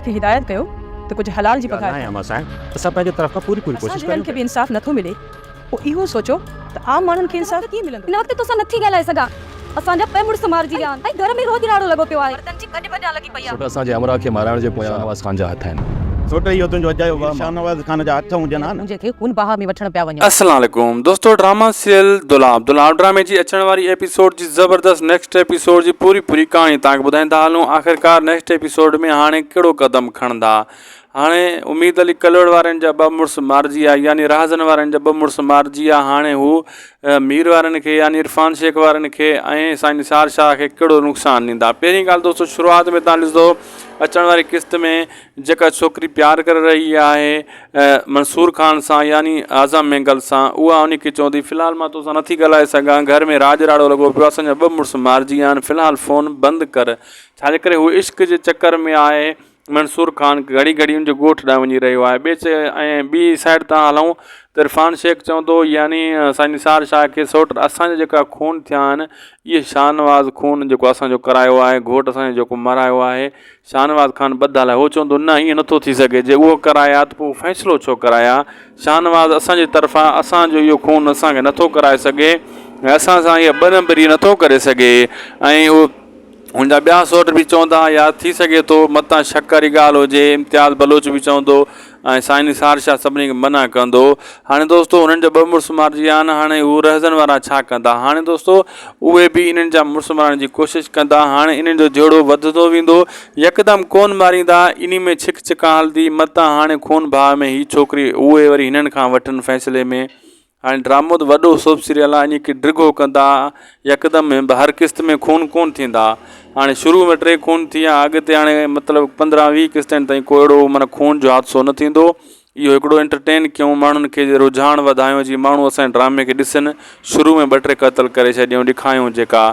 کي هدايت ڪيو ته ڪجهه حلال جي پگهار کائين. اسان جي هنن کي به انصاف نٿو ملي پوء اهو سوچو ته عام ماڻهن کي انصاف ڪيئن ملندو. هن وقت توسان نٿي ڳالهائي سگهان. اسان جا ٻه مڙس مارجي ويا آهن ۽ گهر ۾ روح جهراڙو لڳو پيو آهي. مردن جي ڀڄ ڀڄان لڳي پئي آهي. سوٽ اسان جي همراهه کي مارائڻ جي پويان شاهنواز خان جا هٿ آهن. سوٽ اهو تنهنجو اجايو وهم آهي. شاهنواز خان جا هٿ هجن ها نه. منهنجي کي هن باهه ۾ وٺڻ پيا وڃن. السلام عليڪم دوستو ڊراما سيريل دولاب دولاب ڊرامي جي اچڻ واري ايپيسوڊ جي زبردست نيڪسٽ ايپيسوڊ جي پوري پوري ڪهاڻي تهان کي ٻڌائيندا هلون آخرڪار نيڪسٽ ايپيسوڊ ۾ هاڻي ڪهڙو قدم کڻندا هاڻي اميد علي ڪلهوڙ وارن جا ٻه مڙس مارجي ويا يعني رهزن وارن جا ٻه مڙس مارجي ويا هاڻي هو مير وارن کي يعني عرفان شيخ وارن کي ۽ سائين نثار شاهه کي ڪهڙو نقصان ڏيندا پهرين ڳالهه دوستو شروعات ۾ تهان ڏسندو اچڻ واري قسط ۾ جيڪا ڇوڪري پيار ڪري رهي آهي منصور خان سان يعني اعظم مينگل سان اها ان کي چوندي في الحال مان توسان نٿي ڳالهائي سگهان گهر ۾ راڄ راڙو لڳو پيو آهي اسان جا ٻه مڙس مارجي ويا آهن في الحال فون بند ڪر ڇاجي ڪري هو عشق جي چڪر ۾ آهي منصور خان گهڙي گهڙي ان جي ڳوٺ ڏانهن وڃي رهيو آهي ٻئي چئي ۽ ٻي سائيڊ تان هلون ته عرفان شيخ چوندو يعني سائين نثار شاهه کي سوٽ اسان جا جيڪا خون ٿيا آهن اهي شاهنواز خون جيڪو اسان جو ڪرايو آهي گهوٽ اسان جو جيڪو مرايو آهي شاهنواز خان ٻڌل آهي. هو چوندو، نه ائين نٿو ٿي سگهي. جي اهو ڪرايا ته پوء فيصلو ڇو ڪرايا؟ شاهنواز، اسان جي طرفان اسان جو اهو خون اسان کي نٿو ڪرائي سگهي ۽ اسان سان اها ٻه نمبري نٿو ڪري سگهي ۽ اهو هن جا ٻيا سؤٽ به چوندا يا ٿي سگهي ٿو متان شڪ واري ڳالهه هجي. امتياز بلوچ به چوندو. ۽ سائين نثار شاهه سڀني کي منع ڪندو هاڻي دوستو انهن جا ٻه مڙس مارجي ويا آهن هاڻي هو رهزن وارا ڇا ڪندا هاڻي دوستو اهي به انهن جا مڙس مارڻ جي ڪوشش ڪندا هاڻي انهن جو جهيڙو وڌندو ويندو يڪدم ڪون ماريندا انهي ۾ ڇڪ ڇڪان هلندي متان هاڻي خون ڀاء ۾ هي ڇوڪري اهي وري هنن کان وٺن فيصلي ۾ هاڻي ڊرامو ته وڏو سوپ سيريل آهي اڃي ڪي ڊگهو ڪندا يڪدم ۾ به هر قسط ۾ خون ڪون ٿيندا هاڻي شروع ۾ ٽي خون ٿي ويا اڳتي هاڻي مطلب پندرهن ويهه قسطن تائين ڪو اهڙو معنيٰ خون جو حادثو نه ٿيندو اهو هڪڙو انٽرٽين ڪيون ماڻهن کي جي رجحان وڌايون جي ماڻهو اسان ڊرامي کي ڏسن شروع ۾ ٻه ٽي قتل ڪري ڇڏيون ڏکايون جيڪا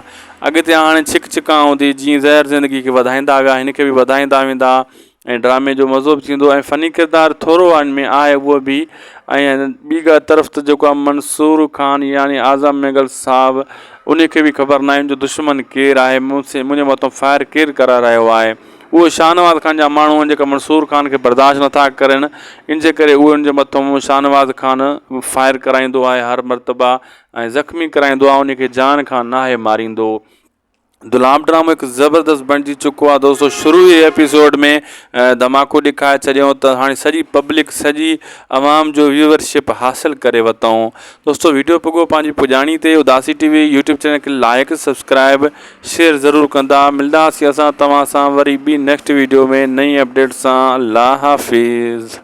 اڳتي هاڻي ڇڪ ڇڪان هوندي جيئن زهر زندگي کي وڌائيندا ويا هن کي به وڌائيندا ويندا ۽ ڊرامي جو مزو به ٿيندو ۽ فني ڪردار ٿورو آهن ۾ آهي اهو به ۽ ٻي ڳا طرف ته جيڪو آهي منصور خان يعني اعظم مينگل صاحب ان کي به خبر ناهي جو دشمن ڪير آهي مون سي منهنجي مٿان فائر ڪير ڪرائي رهيو آهي اهو شاهنواز خان جا ماڻهو آهن جيڪا منصور خان کي برداشت نٿا ڪرين ان جي ڪري اهو ان جي مٿان شاهنواز خان فائر ڪرائيندو آهي هر مرتبه ۽ زخمي ڪرائيندو آهي ان کي جان کان ناهي ماريندو غلام ڊرامو هڪ زبردست بڻجي چڪو آهي دوستو شروع ئي ايپيسوڊ ۾ ڌماڪو ڏيکاري ڇڏيو ته هاڻي سڄي پبلڪ سڄي عوام جو ويورشپ حاصل ڪري وتائون دوستو ويڊيو پڳو پنهنجي پڄاڻي تي Udasi TV YouTube channel کي لائق سبسڪرائب شيئر ضرور ڪندا ملنداسي اسان توهان سان وري ٻي نيڪسٽ ويڊيو ۾ نئين اپڊيٽ سان الله حافظ